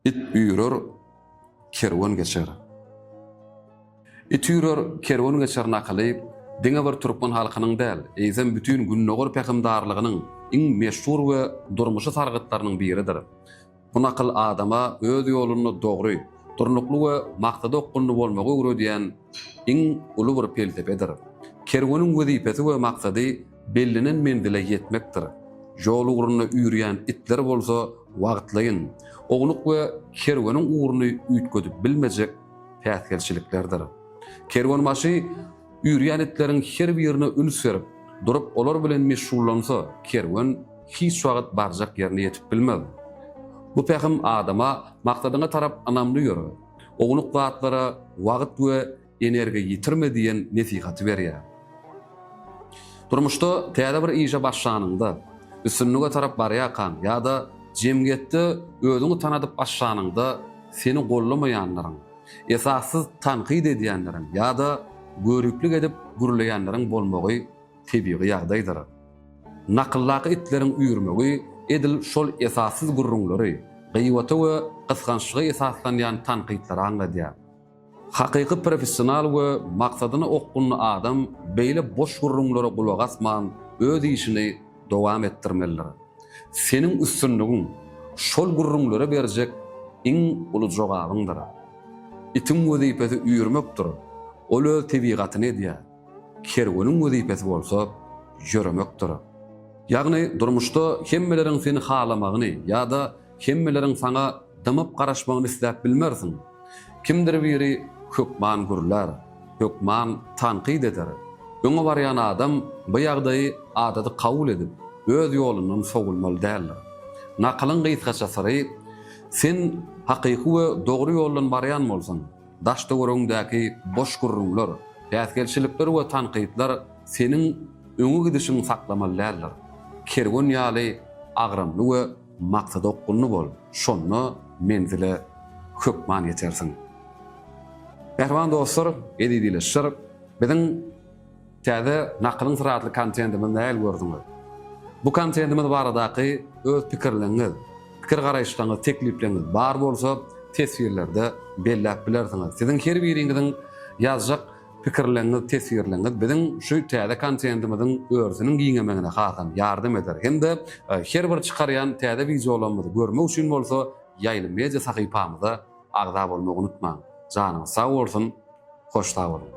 It üýrer, kerwen geçer. It üýrer, kerwen geçer nakyly diňe bir türkmen halkynyň däl, eýsem bütin Gündogar pähimdarlygynyň iň meşhur we durmuşy sargytlarynyň biridir. Bu nakyl adama öz ýolunda dogry, durnukly we maksada okgunly bolmagy öwredýän iň uly bir pelsepedir. Kerweniň wezipesi we maksady Bellenen menzile ýetmekdir. Ýol ugrunda üýrýän itler bolsa wagtlaýyn, ownuk we kerweniň ugruny üýtgedip bilmejek päsgelçiliklerdir. Kerwenbaşy üýrýän itleriň her birine üns berip, durup olar bilen meşgullansa, kerwen hiç wagt barjak ýerine ýetip bilmez. Bu pähim adama, Maksadyňa tarap ynamly ýör, ownuk zatlara wagt we Energiýa ýitirme diýen nesihaty berýär. Durmuşda täze bir işe başlanyňda, üstünlige tarap barýarkaň ýa-da jemgyýetde özüňi tanadyp başlanyňda seni goldamaýanlaryň, esassyz tankyt edýänleriň ýa-da göriplik edip gürleýänleriň bolmagy tebigy ýagdaýdyr. Nakyldaky itleriň üýrmegi edil şol esassyz gürrüňleri, gybata we gysgançlyga esaslanýan tankytlary aňladýar. Hakyky professional we maksadyna okgunly adam beýle boş gürrüňlere gulak asman öz işini dowam etdirmelidir. Seniň üstünligiň şol gürrüňlere berjek iň uly jogabyňdyr. Itiň wezipesi üýrmekdir, ol öz tebigatyny edýär. Kerweniň wezipesi bolsa ýöremekdir. Ýagny durmuşda hemmeleriň seni halamagyny ýa-da Hemmeleriň saňa dymyp garaşmagyny isläp bilmersiň. Kimdir biri hökman gürlär, hökman tankyt eder. Öňe barýan adam bu ýagdaýy adaty kabul edip, öz ýolundan sowulmaly däldir. Nakylyň gysgaça syry, Sen hakyky we dogry ýoldan barýan bolsaň, daş-töweregiňdäki boş gürrüňler, päsgelçilikler we tankytlar seniň öňe gidişiňi saklamaly däldir. Kerwen ýaly agramly we Maksada okgunly bol, şonda menzile hökman ýetersiň. Mähriban dostlar, eziz ildeşler, biziň täze Nakylyň syry atly kontentimizi nähili gördüňiz? Bu kontentimiz baradaky öz pikirleňiz, pikir-garaýyşlaňyz, teklipleňiz bar bolsa teswirlerde belläp bilersiňiz. Siziň her biriňiziň ýazjak pikirleňiz, teswirleňiz, biziň şu täze kontentimiziň örüsiniň giňemegine hasam ýardam eder hem-de her bir çykarýan täze wideolarymyzy görmek üçin bolsa Ýaýly Media sahypamyza agza bolmagy unutmaň. Janyňyz sag bolsun, hoş sag boluň!